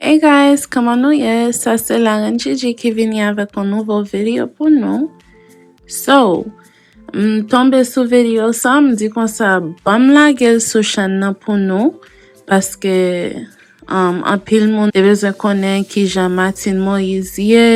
Hey guys, kman nou ye, sa se la reine Gigi ki vini avèk yon nouvo video pou nou So, m tonbe sou video sa, m di konsa banm lage l sou chèn nan pou nou Paske um anpil moun te bezwen konnen kijan Martine Moïse ye,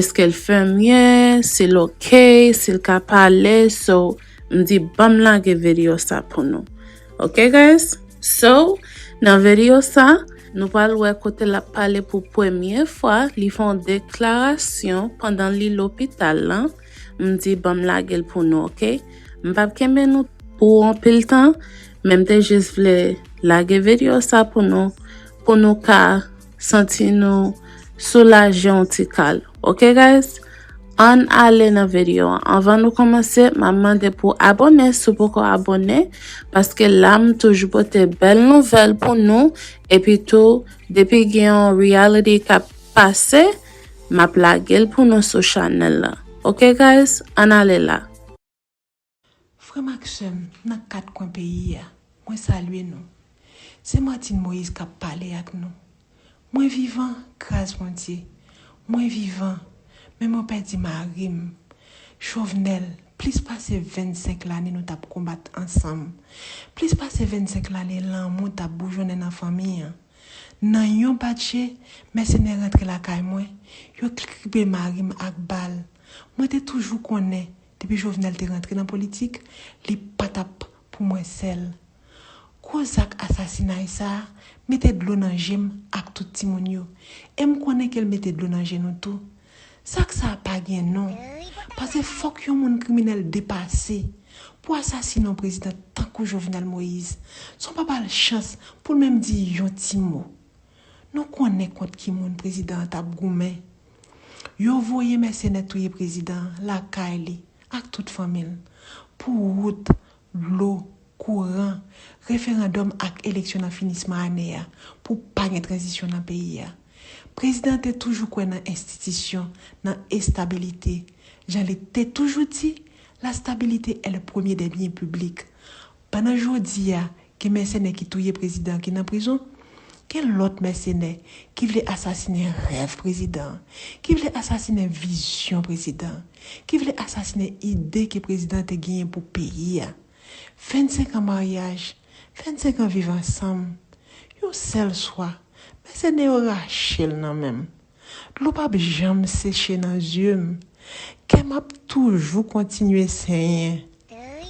eskel fèm ye, si l ok, si l ka pale So, M di banm lage video sa pou nou ok guys. So nan video sa nou pral wè kote lap pale pou premye fwa li fè yon deklarasyon pandan li lopital lan m di banm lagel pou nou ok m pap kenbe nou pou anpil tan men m te jis vle lage video sa pou nou pou nou ka Santi nou soulaje yon ti kal. Ok guys Ann ale nan video an Anvan nou komanse map mande pou abone si w poko abone paske la m toujou pote bèl nouvèl pou nou epi tou depi gen yon reality kap pase map lage l pou nou sou chanèl la ok guys Ann ale la. Frè m ak sè m nan kat kwen peyi a, mwen salye nou. Se Martine Moïse k ap pale ak nou. Mwen vivan, gras Bondye. Mwen vivan, men mwen pèdi mari m, Chauvenel, plis pase 25 lane nou t ap konbat ansanm, plis pase 25 lane lanmou t ap boujonnen nan fanmi an. Nan yon bat je, mèsenè rantre lakay mwen, yo kribe mari m ak bal. Mwen te toujou konnen Depi Jovenel te rantre nan politik, li pa t ap pou mwen sèl. Gwo zak asasinay sa a mete dlo nan je m ak tout timoun yo, e m konnen ke l mete dlo nan je nou tou. Zak sa a pa gen non, pase fòk yon moun kriminèl depase pou asasine yon prezidan tankou Jovenel Moïse, san w pa ba l chans pou l menm di yon ti mo. Nou konnen kont ki moun prezidan an t ap goumen. Yo voye mèsenè touye prezidan lakay li ak tout fanmi l pou wout, dlo, kouran, referandòm ak eleksyon nan finisman ane a pou pa gen tranzisyon nan peyi a. Prezidan te toujou kwè nan enstitisyon, nan estabilite. Jan li te toujou di, la stabilité est le premier des biens publics. Pandan jodi a, gen mèsenè ki touye prezidan an ki nan prizon, gen lòt mèsenè ki vle asasinen rèv prezidan an, ki vle asasinen vizyon prezidan an, ki vle asasinen ide ke prezidan an te genyen pou peyi a. 25 an maryaj, 25 an viv ansanm, yon sèl swa, mèsenè yo rache l nan men m. Dlo pap janm seche nan zye m. Kè m ap toujou kontinye senyen.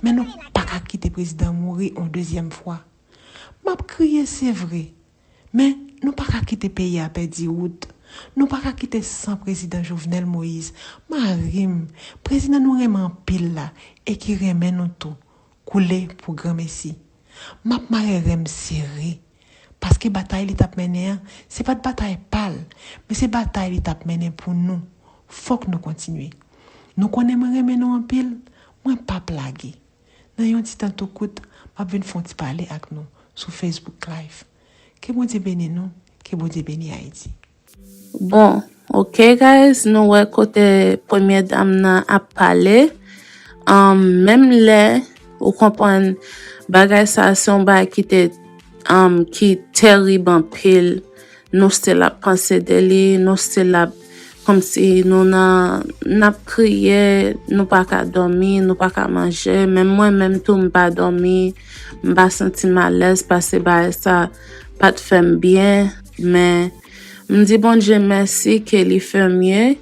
Men nou pa ka kite prezidan mouri on dezyèm fwa. M ap kriye se vre. Men nou pa ka kite peyi a pèdi wout. Nou pa ka kite san prezidan Jovenel Moïse, mari m, prezidan nou renmen anpil la e ki renmen nou tou, Koule pou granmesi. M ap mare ren m sere. Paske batay li t ap mennen an, se pa t batay pa l, men se batay li t ap mennen pou nou. Fòk nou kontinye. Nou konnen mwen renmen nou anpil, mwen p ap lage. Nan yon ti tan tou kout, m ap vin fè yon ti pale ak nou sou Facebook Live. Ke Bondye beni nou, ke Bondye beni Ayiti. Bon ok guys nou wè kote premye dam nan ap pale um, menm lè ou konprann bagay sa se yon bagay ki te um, ki terib anpil nou still ap panse de li nou still ap kom si nou nan nap kriye nou pa ka domi nou pa ka manje menm mwen menm tou m pa domi m pa santi m alèz pase bagay sa. pat fèm byen men m di Bondye mèsi ke li fè mye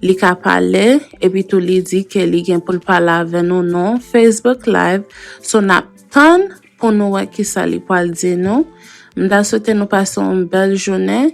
li ka pale epi tou li di ke li gen poul pale avè nou nou Facebook live so nap tann pou nou wè kisa li pwal di nou m ta swete nou pase yon bèl jounen.